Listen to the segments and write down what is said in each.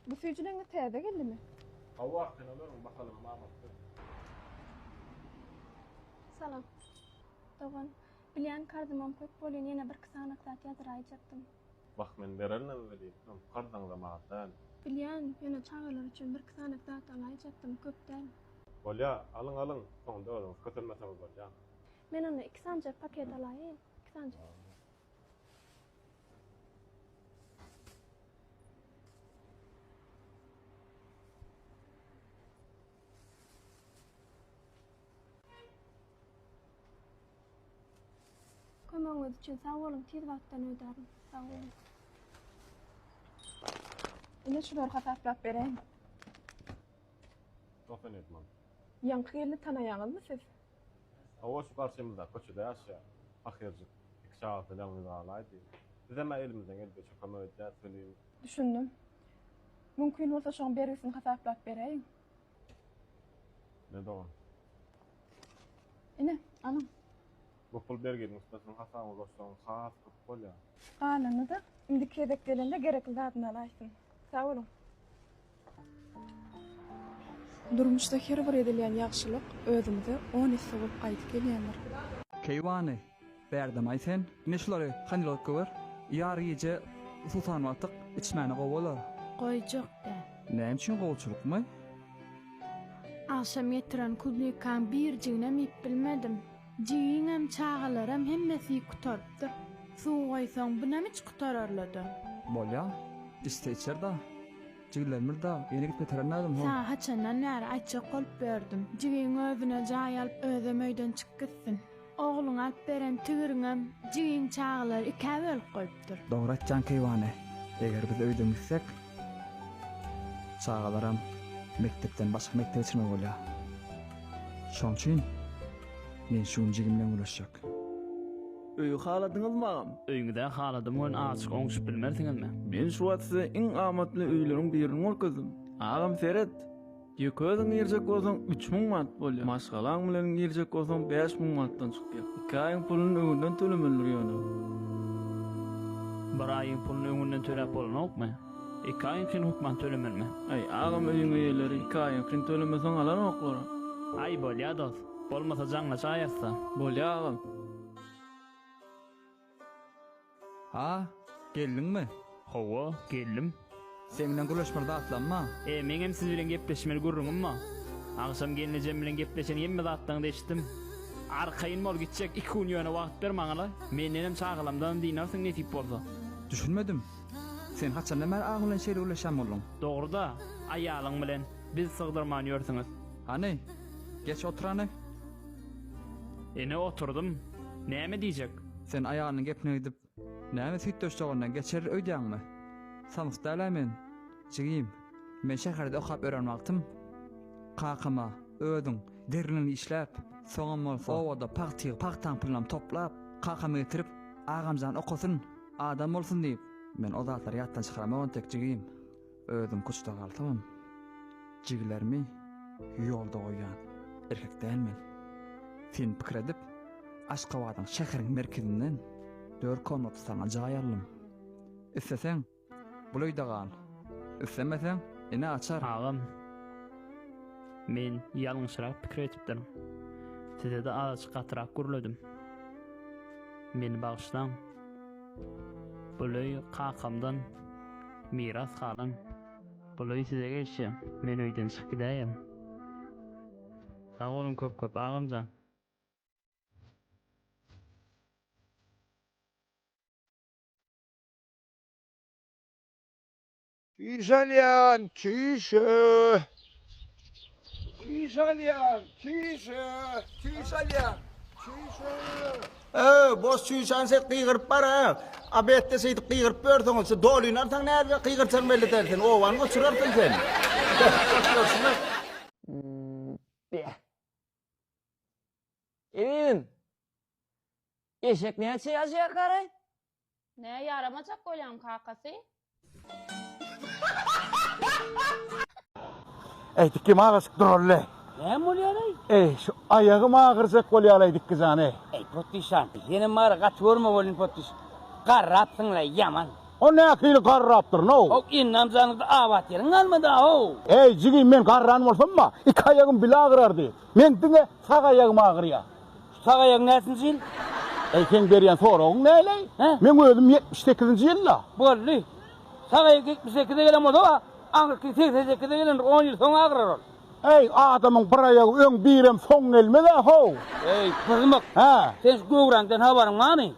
Bu süýjüleňňiz täze geldimi? Hawa, sen olaryň mahalyny mamap dur. Salam. Dogan, bilýän karzymam köp bolýan, ýene birki sany zat ýazyraýjakdym. Wah, men bererin-ä welin, öň karzyňzam az däl. Bilýän, ýöne çagalar üçin birki sany zat alaýjakdym, köp däl. Bolýa, alyň, alyň, soňda özüňiz kösenmeseňiz bolýa. Men onda iki sanjak paket alaýyn, iki sanjak. Kömegiňiz üçin sag boluň, tiz wagtdan ödärin. Sag boluň. Ine şular hasaplap bereýin. Dokan etmem. Ýaňky gelni tanaýaňyzmy siz? Hawa, şu garşymyzdaky köçede ýaşaýar. Pahyrjyk, iki çagasy bilen gyz galaýdy. Bizem-ä elimizden geldigiçe kömek edýäs welin. Düşündim. Mümkin bolsa şoň bergisini hasaplap beräýiň. Ne dogan? Ine, alyň. Bu pul berginiň üstüne siziň hasabyňyzy goşsaňyz has köp bolýar. Galanyny-da indiki gezek gelende gerekli zadyny alaýsyn. Sag boluň. Durmuşda her bir edilýän ýagşylyk özümize on esse bolup gaýdyp gelýändir. Keýwany, bärdem-aý sen. Ine şulary hanylotka ber. Ýar gije susan wagtyk içmäni gowy bolar. Goýjak däl. Näme üçin gowçylykmy? Agşam getiren kuznikam birjiginem iýip bilmedim. Jigiňem, çagalaram hemmesi gutarypdyr. Suw goýsaň, bunam hiç gutararlydy. Bolýa. Içse içer-da. Jigilerimiz-de ýene gitip ýetiren nädem, ho. Saňa haçandan bäri aýtjak bolup ýördüm. Jigiň özüne jaý alyp, özem öýden çyk gitsin. Ogluňa alyp beren tigiriňem jigiň çagalary ikä bölüp goýupdyr. Dogry aýtýaň keýwany. Eger biz öýden gitsek, Çagalaram mekdepden başga mekdebe çykmaly bolýar. Şoň üçin men şu gün jigim bilen gürleşjek. Öýi haladyňyzmy agam? Öýüňizi-ä haladym welin azajyk oňşup bilmersiňizmi? Men şu wagt size iň amatly öýleriň birini görkezdim. Agam seret! Ýeke özüň girjek bolsaň üç müň manat bolýar. Maşgalaň bilen girjek bolsaň bäş müň manatdan çykýar. Iki aýyň puluny öňünden tölemelidir ýöne. Bir aýyň puluny öňünden töläp bolanokmy? Iki aýyňkyny hökman tölemelimi? Aý agam öýüň eýeleri iki aýyňkyny tölemeseň alanoklar. Aý bolýa dost. Bolmasa jaňlaşaýasda. Bolýa agam. A, geldiňmi? Hawa, geldim. Sen bilen gürleşmeli zatlammyň? E, meňem siz bilen gepleşmeli gürrüňim bar. Agşam gelnejem bilen gepleşen hemme zatlaryňyzy eşitdim. Arkaýyn bol, gitjek iki gün ýöne wagt ber maňa-la. Mendenem çagalamdanam dynarsyň nesip bolsa. Düşünmedim. Sen haçandan bäri agyň bilen şeýle gürleşýän bolduň? Dogry-da, aýalyň bilen biz sygdyrman ýörsüňiz. Hany, geç otur hany. Ine oturdym. Näme diýjek? Sen aýalynyň gepine gidip, näme süýtdeşjagyndan geçeris öýdýäňmi? Samsyk däl-ä men, jigim. Men şäherde okap ören wagtym, kakam-a, özüň, deriniňi işläp, soňam bolsa, obada pagtygy, pagtaň pulynam toplap, kakama getirip, Agamjan okasyn, adam bolsun diýip, men o zatlary ýatdan çykaramok entek, jigim. Özüm kuçda galsam, jigilerimi ýolda goýýan erkek däl men. Sen pikir edip, Aşgabadyň şäheriň merkezinden dört komnatly saňa jaý aldym. Isleseň, bul öýde gal, islemeseň, ine açar. Agam, men ýalňyşrak pikir edipdirin. Size-de azajyk gatyrak gürledim. Meni bagyşlaň. Bul öý kakamdan miras galan. Bul öý size gelşi, men öýden çykyp gidäýem. Sag boluň köp köp agamjan. Üýş alýan çüýşe. Üýş alýan çüýşe. Çüýş alýan çüýşe. Öý, boş çüýşäni siz gygyryp bara. A betde şeýdip gygyryp ýörseňiz, şu dolyny alsaň nädip gygyrsaň belli däl sen. Obany goçurarsyň sen. Görşüňiz. Be. Emin. Eşek näçe ýaşaýar garaý? Nä ýaramajak bolýaň kakasy. Eýtik kim agasyk duraly. Näme bolýar eý. Eý şu aýagym agyrjak bolýaly eýdikki jan eý. Eý potdyşan senem bary gaty görme bolyn potdyş garrapsyňla ýaman. O nähili garrapdyr now. How indam janyňda abat ýeriň galmady how. Eý jigim men garran bolsam ba iki aýagym bile agyrardy men diňe sag aýagym agyrýa. Sag aýagyň näçinji ýyl? Eý, seň berýän soragyň näleý? Hä? Meň özüm ýetmiş sekizinji ýylda. Boldy. Sag aýak ýetmiş sekize gelen bolsa-a, aňyrky segsen sekize gelendir, on ýyl soň agrar ol. Eý, adamyň bir aýagy öň, birem soň gelmez-ä, how! Eý, pyzmyk! Hä? Sen şu göwräňden habaryň barmy?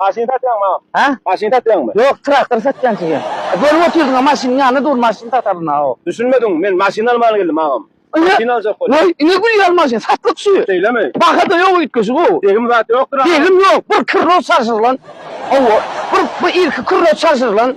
Maşyn satýaňmy agam? Hä? Maşyn satýaňmy? Ýok, traktor satýan size. Bölüp otyrdyňa maşynyň ýanynda dur, maşyn sataryn a o. Düşünmediň, men maşyn alman geldim agam. Maşyn aljak boldum. Waý, ine gülýär maşyn, satlyk şu. Şeýlemi? Bahada ýok üýtgeşik o. Degim zat ýokdur agam? Degim ýok, bir krroz çalşyrylan. Hawa, bir bu irki krroz çalşyrylan.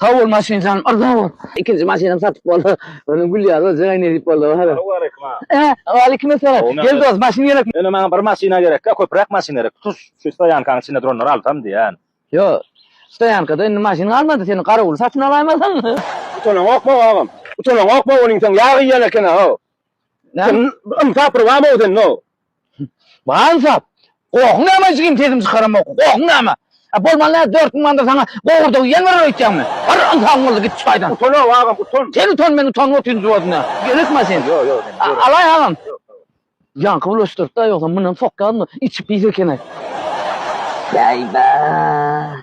Sag bol maşyn janym arza bol. Ikinji maşynam satyp boldy. Öňem gülýär özüň aý nädip boldy hada. Salam waleýkim aga. He waleýkim esselam. Gel dos maşyn gerek. Ine maňa bir maşyna gerekka köpüräk maşyn gerek tutuş şu stoýankaň içinde duranlary alsam diýýän. Ýo stoýankada indi maşyn galmady seni garawuly satyn alaýmasaň. Utanaňokma agam. Utanaňokma onuň sen ýag iýen ekena ho. Sen ynsap bir barmy sende? Bar ynsap. Gohuň näme jigim sesiňi çykaramok. Gohuň näme? A bolman näme dört müň manada saňa gowurda iýen berer öýtýäňmi? Bir ynsabyň bolsa git şu taýdan. Utanok agam utan. Sen utan men utanyp otyryn juwadyna. Gerekma sen. Ýok ýok sen ýör. Alaý agam. Ýaňky bulaşdyrypda ýogsa mundan sokýarmy içi pis ekeni. Bäý bäý.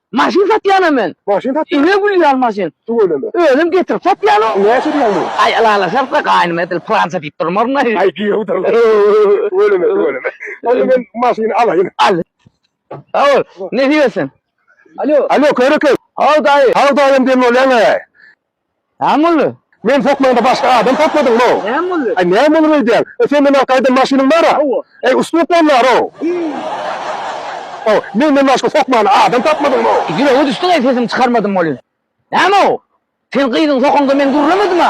Maşyn satýanam men. Maşyn satýan. Ine gülýän maşyn. Tüweleme. Özüm getirip satýanok. Näçe diýýäň muny? Aý ylalaşarka gaýnym edil pylança diýip durmaryn aý. Aý giýewdir. Tüweleme tüweleme. Onda men maşyny alaýyn. Al. Sag bol. Nesip etsin. Alo. Alo Körekeý. Haw daýy. Haw daýym diýen bolýaň-aý. Näme boldy? Meni sokmaňda başga adam sakladyňmy? Näme boldy? Aý, näme bolup öýdýäň? E, sen menden gaýdan maşynyň bar-a? Hawa. Äý, ustup bol bar-ow! Haw, menden başga sokmana adam tapmadyňmy? Ýüregiňe düşdüň-eý, sesimi çykarmadym welin. Näme-ow? Sen gyzyňy sokaňda men gürlemedima?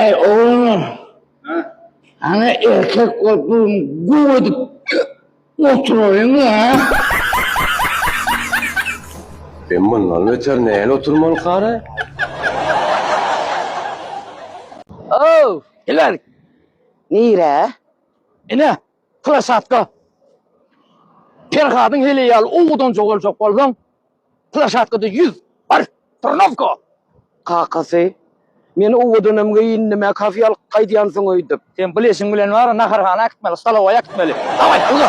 Äý oglanlar, hany erkek bolup bu gün guw edip oturaýyň-la. Sen mundan beter näl oturmalykaara? Ow, geliň. Nirä? Ine, Krosatka. Perhadyň heleýaly owadan jogaljak bolsaň, Plaşatkada ýüz, bar, trnowka! Kakasy, Men owadanam geýindim-ä, kafe alyp gaýdýansyň öýdüp. Sen bu leşiň bilen bar, naharhana äkitmeli, stolowaýa äkitmeli. Dawaý, alga!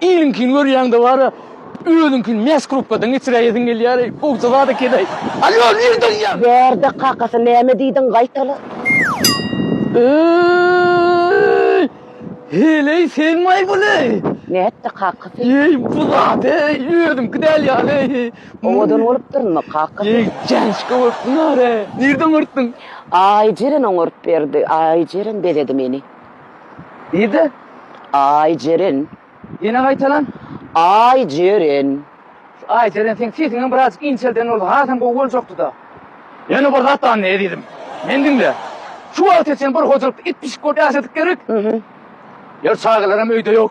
Iliňkini görýäňde bara özüňkini mes krupkadan geçiräýesiň gelýär eý gowja zat eken eý Alýo nirde ýa. Bärde kakasy näme diýdiň gaýtala. Eý heleý senmaý buly. Nätdi kakasy. Eý bu zat eý özüňki däl ýaly eý. Owadan bolupdyrmy, kaka sen? Eý, Janşka bolsunlar-a! Nirde oňartdyň? Aýjeren oňaryp berdi. Aýjeren bezedi meni. Nirde? Aýjeren. Ýene gaýtalan? Aýjeren. Şu Aýjeren, seň sesiňem birazjyk inçelden bolsa, hasam gowy boljakdy-da. Ýene bir zat bar, Nezizim. Meni diňle. Şu wagta çenli bir hojalykda it-pişik bolup ýaşadyk gerek. Ýör, çagalaram öýde ýok.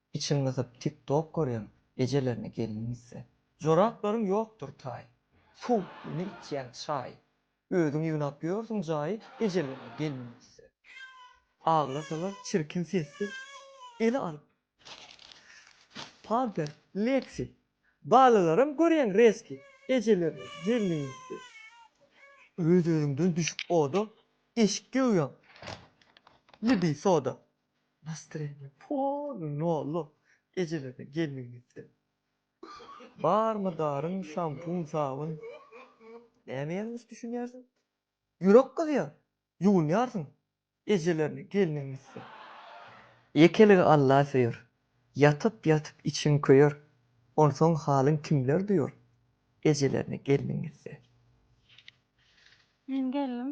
Içiň gysyp tik tok görýäň ejelerine gelin gitse. Joraplaryň ýokdur taý. Fuh ne içýäň çaý. Özüň ýygnap ýörsüň jaý ejelerine gelin gitse. Aglasalar çirkin sessiz ele alyp pamper leksi. Balalaram görýäň reski ejelerine gelin gitse. Öz özüňden düşüp oda eşik geoýaň libi soda. Nastreniň pol nolu ejelere gelin gitsin. Barmy daryň şampun sabyn näme ýalňyş düşünýärsiň. Ýürek gyzýa ýuwunýarsyň ejelerine gelniň gitsin. Ýekeligi Alla söýer. Ýatyp ýatyp içiň köýer. Onsoň halyň kimler duýar ejelerine gelniň gitse. Men geldim.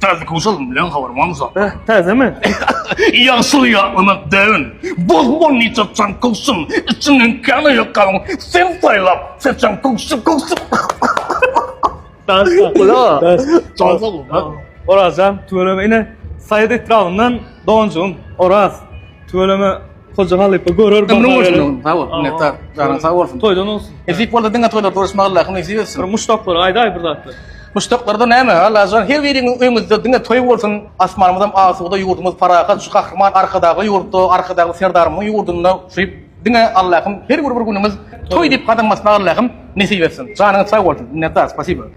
Täze kowşalyň bilen habar barmy Zat? Beh, täzemi? Ýagşyly ýatlamak däbin. Bol-bol niç atjaň kowşum, içinden kän aýakgabyň sen saýlap, seçen kowşum, kowşum. Orazjan, tüweleme ine, Saýat etrabyndan doganjygym Oraz. Tüweleme Hoca halypa görer baha Ömrüň bolsun oglum. Sag bol. Minnetdar. Janyň sag bolsun. Toýdan olsun. Nesip bolsa diňe toýda duruşmak Allahym nesip etsin. Bir muşdaklary aýdaý bir zatlar. Muşdaklarda näme? Allajan her biriň öňüzde diňe toý bolsun. Asmanymyzam asuda, ýurdumyz parahat, şu gahryman Arkadagly ýurtda, Arkadagly Serdarymyzyň ýurdunda şu diňe Allahym her bir günüňiz toý diýip gadam basmagy Allahym nesip etsin. Janyňyz sag bolsun. Minnetdar. Spasiba.